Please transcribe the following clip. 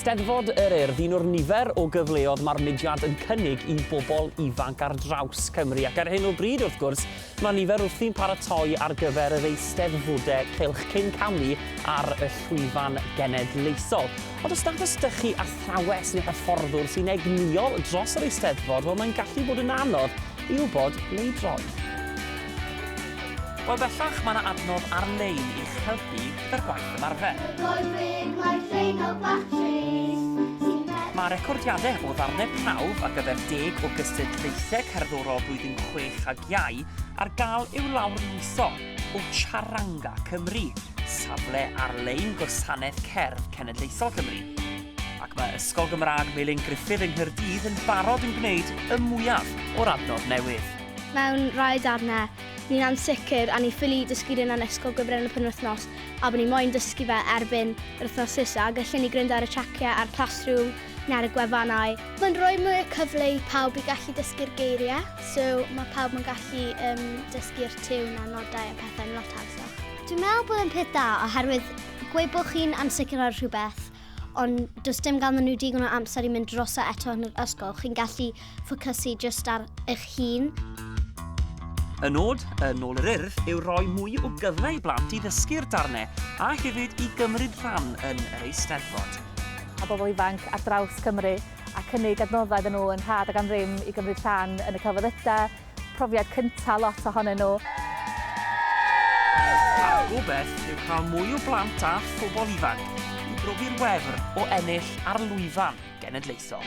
Steddfod yr Urdd, un o'r nifer o gyfleodd mae'r mudiad yn cynnig i bobl ifanc ar draws Cymru. Ac ar hyn o bryd, wrth gwrs, Mae nifer wrthi'n paratoi ar gyfer yr Eisteddfode Cylch cyn camu ar y llwyfan genedlaethol. Ond os nad oes 'da chi athrawes neu hyfforddwr sy'n egnïol dros yr Eisteddfod, wel mae'n gallu bod yn anodd i wybod ble i droi. Wel bellach mae 'na adnodd ar-lein i'ch helpu. gyda'r gwaith ymarfer. Mae recordiadau o ddarnau prawf ar gyfer deg o gystadlaethau cerddorol blwyddyn chwech ag iau ar gael i'w lawrlwytho o Charanga Cymru, safle ar-lein Gwasanaeth Cerdd Cenedlaethol Cymru. Ac mae Ysgol Gymraeg Melin Gruffydd yng Nghaerdydd yn barod yn gwneud y mwyaf o'r adnodd newydd. Mewn rhai darnau, Ni'n ansicr a ni'n ffili dysgu run an ysgol gyfren y penwythnos a bod ni moyn dysgu fe erbyn yr wythnos nesa, gellwn ni gryndo ar y traciau ar Classroom neu ar y gwefannau. Mae'n rhoi mwy o cyfle i pawb i gallu dysgu'r geiriau, so mae pawb yn gallu yym dysgu'r tiwn a nodau a pethau'n lot hawsach. Dwi'n meddwl bod e'n peth da oherwydd gweud bod chi'n ansicr ar rhywbeth ond does dim ganddyn nhw digon o amser i mynd droso eto yn yr ysgol, chi'n gallu ffocysu jyst ar eich hun. Y nod yn ôl yr Urdd yw rhoi mwy o gyfle i blant i ddysgu'r darnau a hefyd i gymryd rhan yn yr Eisteddfod. a bobl ifanc ar draws Cymru a cynnig adnoddau iddyn nhw yn rhad ac am ddim i gymryd rhan yn y celfyddydau, Profiad cyntaf lot ohonyn nhw. A'r gobaith yw cael mwy o blant a phobl ifanc i brofi'r wefr o ennill ar lwyfan genedlaethol.